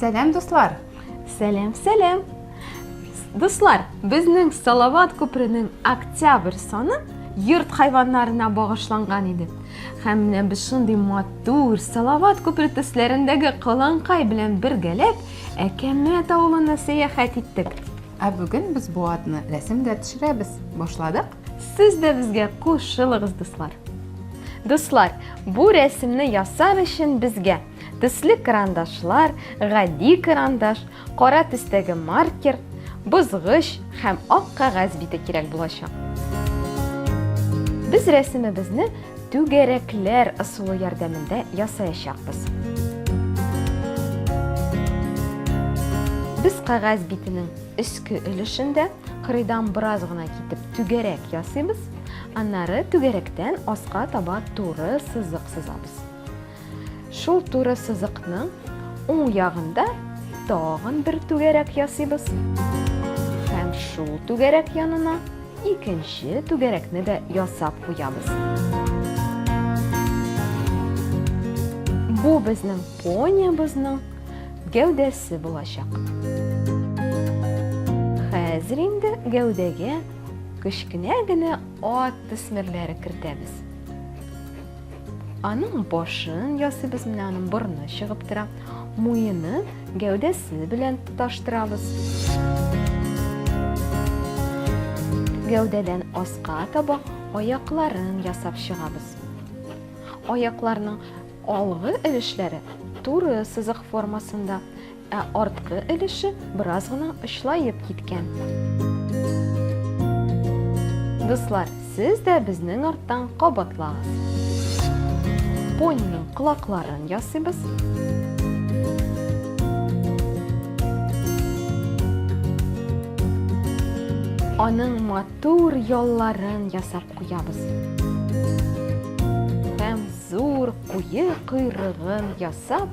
Сәләм, дуслар! Сәләм, сәләм! Дуслар, безнең Салават күперенең октябрь саны йорт хайваннарына багышланган иде. Һәм менә без шундый матур Салават күпере төсләрендәге каланкай белән бергәләп Әкәмәт авылына сәяхәт иттек. Ә бүген без бу атны рәсем дә төшерәбез. Башладык? Сез дә безгә кушылыгыз, дуслар. Дуслар, бу рәсемне ясар өчен безгә төсле карандашлар, гади карандаш, кара төстәге маркер, бозгыч һәм ак кәгазь бите кирәк булачак. Без рәсемебезне Түгәрәкләр ысулы ярдәмендә ясаячакбыз. Без кәгазь битенең өске өлешендә кырыйдан бераз гына китеп түгәрәк ясыйбыз, аннары түгәрәктән аска таба туры сызык сызабыз. Шул туры сызыкның уң ягында тагын бер түгәрәк ясыйбыз. Һәм шул түгәрәк янына икенче түгәрәкне дә ясап куябыз. Бу безнең пониябезнең гәүдәсе булачак. Хәзер инде гәүдәгә кечкенә генә ат төсмерләре кертәбез. Аның башын ясыйбыз, менә аның борны чыгып тора. Муены гәүдәсе белән тоташтырабыз. Гәүдәдән аска таба аякларын ясап чыгабыз. Аякларның алгы өлешләре туры сызык формасында, Ә арткы өлеше бераз гына очлаеп киткән. Дуслар, сез дә безнең арттан кабатлагыз. Пониның колакларын ясыйбыз. Аның матур ялларын ясап куябыз. Һәм зур куе койрыгын ясап,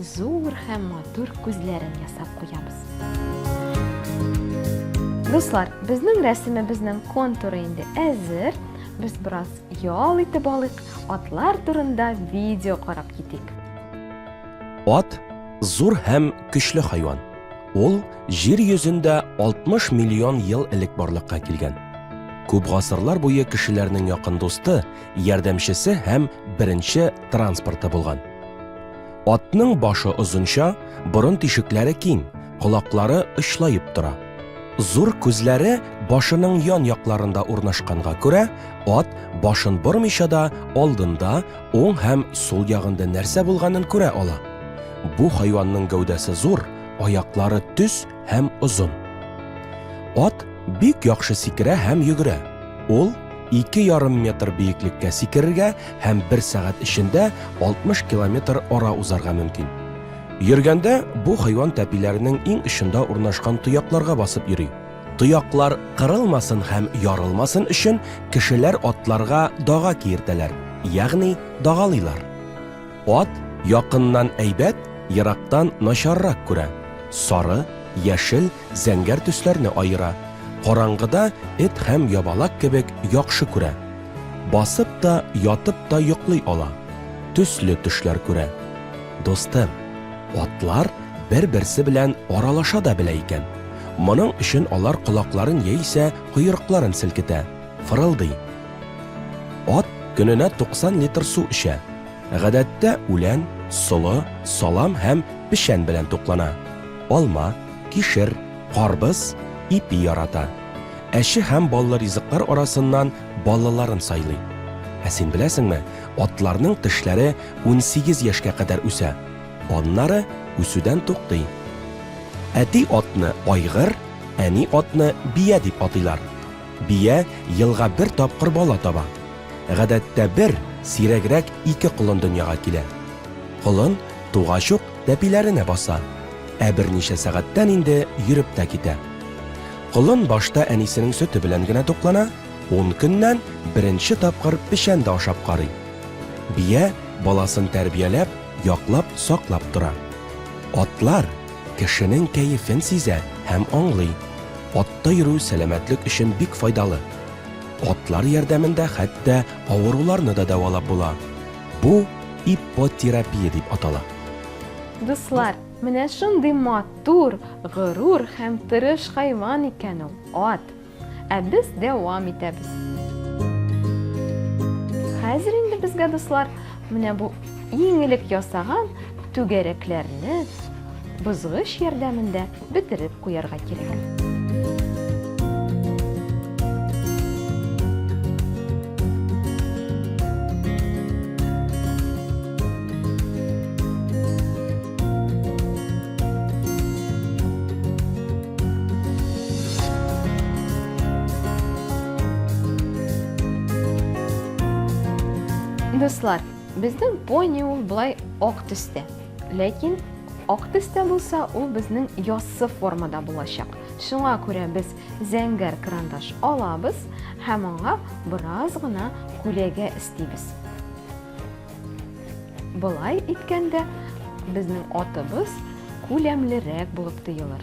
Зур һәм матур күзләрен ясап куябыз. Дуслар, безнең рәсемебезнең контуры инде әзер. Без бераз ял итеп алыйк, атлар турында видео карап китик. Ат зур һәм көчле хайван. Ул җир йөзендә 60 миллион ел элек барлыкка килгән. Күп гасырлар буе кешеләрнең якын дусты, ярдәмчесе һәм беренче транспорты булган. Атның башы озынча, борын тишекләре киң, колаклары очлаеп тора. Зур күзләре башының ян якларында урнашканга күрә, ат башын бормыйча да алдында, уң һәм сул ягында нәрсә булганын күрә ала. Бу хайванның гәүдәсе зур, аяклары төз һәм озын. Ат бик яхшы сикерә һәм йөгерә. Ул 2,5 метр биеклеккә сикерергә һәм 1 сәгать эчендә 60 километр ара узарга мөмкин. Йөргәндә бу хайван тәпиләренең иң очында урнашкан тоякларга басып йөри. Тояклар кырылмасын һәм ярылмасын өчен кешеләр атларга дага киертәләр, ягъни дагалыйлар. Ат якыннан әйбәт, ерактан начаррак күрә. Сары, яшел, зәңгәр төсләрне аера. Караңгыда эт һәм ябалак кебек яхшы күрә. Басып та, ятып та йоклый ала. Төсле төшләр күрә. Дустым, атлар бер-берсе белән аралаша да белә икән. Моның өчен алар колакларын яисә койрыкларын селкетә, фырылдый. Ат көненә 90 литр су эчә. Гадәттә үлән, солы, салам һәм печән белән туклана. Алма, кишер, карбыз, ипи ярата. Әче һәм баллы ризыклар арасыннан баллыларын сайлый. Ә син беләсеңме, атларның тешләре унсигез яшькә кадәр үсә, аннары үсүдән туктый. Әти атны айгыр, әни атны бия дип атыйлар. Бия елга бер тапкыр бала таба. Гадәттә бер, сирәгрәк ике колын дөньяга килә. Колын тугач ук тәпиләренә баса, ә берничә сәгатьтән инде йөреп тә китә. Колын башта әнисенең сөте белән генә туклана, ун көннән беренче тапкыр печән дә ашап карый. Бия баласын тәрбияләп, яклап, саклап тора. Атлар кешенең кәефен сизә һәм аңлый. Атта йөрү сәламәтлек өчен бик файдалы. Атлар ярдәмендә хәтта авыруларны да дәвалап була. Бу иппотерапия дип атала. Дуслар, менә шундый матур, горур һәм тырыш хайван икән ул, ат. Ә без дәвам итәбез. Хәзер инде безгә, дуслар, менә бу иң элек ясаган түгәрәкләрне бозгыч ярдәмендә бетереп куярга кирәк. Дуслар, безнең пони ул болай ак төстә. Ләкин ак төстә булса, ул безнең яссы формада булачак. Шуңа күрә без зәңгәр карандаш алабыз һәм аңа бераз гына күләгә эстибез. Болай иткәндә безнең атыбыз күләмлерәк булып тоелыр.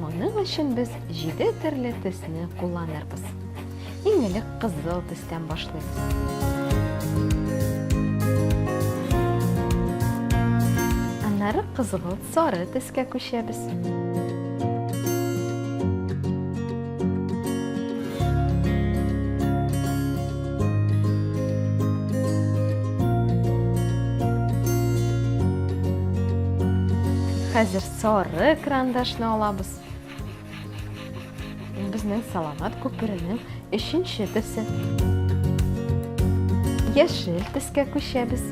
Моның өчен без җиде төрле төсне кулланырбыз. Иң элек кызыл төстән башлыйбыз. Аннары кызгылт сары төскә күчәбез. Хәзер Сары крандашны алабыз. Ул безнең саламат күперенең өченче төсе. Яшел төскә күчәбез.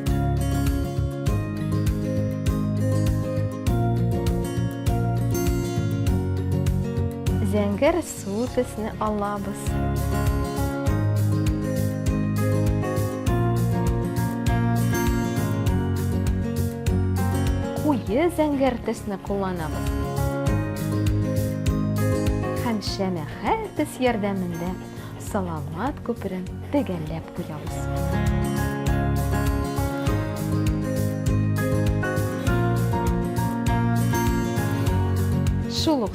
Зәңгәр Зур безне алабыз. Куе зәңгәр төсне кулланабыз. Һәм шәмәхә төс ярдәмендә саламат күперен төгәлләп куябыз. Шул ук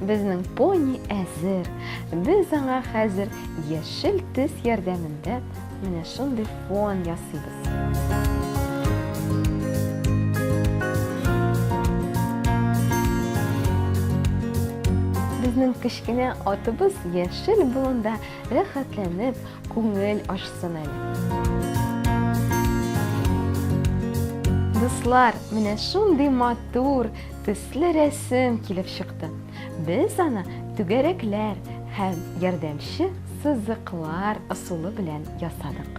Безнең пони әзер. Без аңа хәзер яшел төс ярдәмендә менә шундый фон ясыйбыз. Безнең кечкенә атыбыз яшел болында рәхәтләнеп күңел ачсын әле. Дуслар, менә шундый матур төс Хәтле рәсем килеп чыкты. Без аны түгәрәкләр һәм ярдәмче сызыклар ысулы белән ясадык.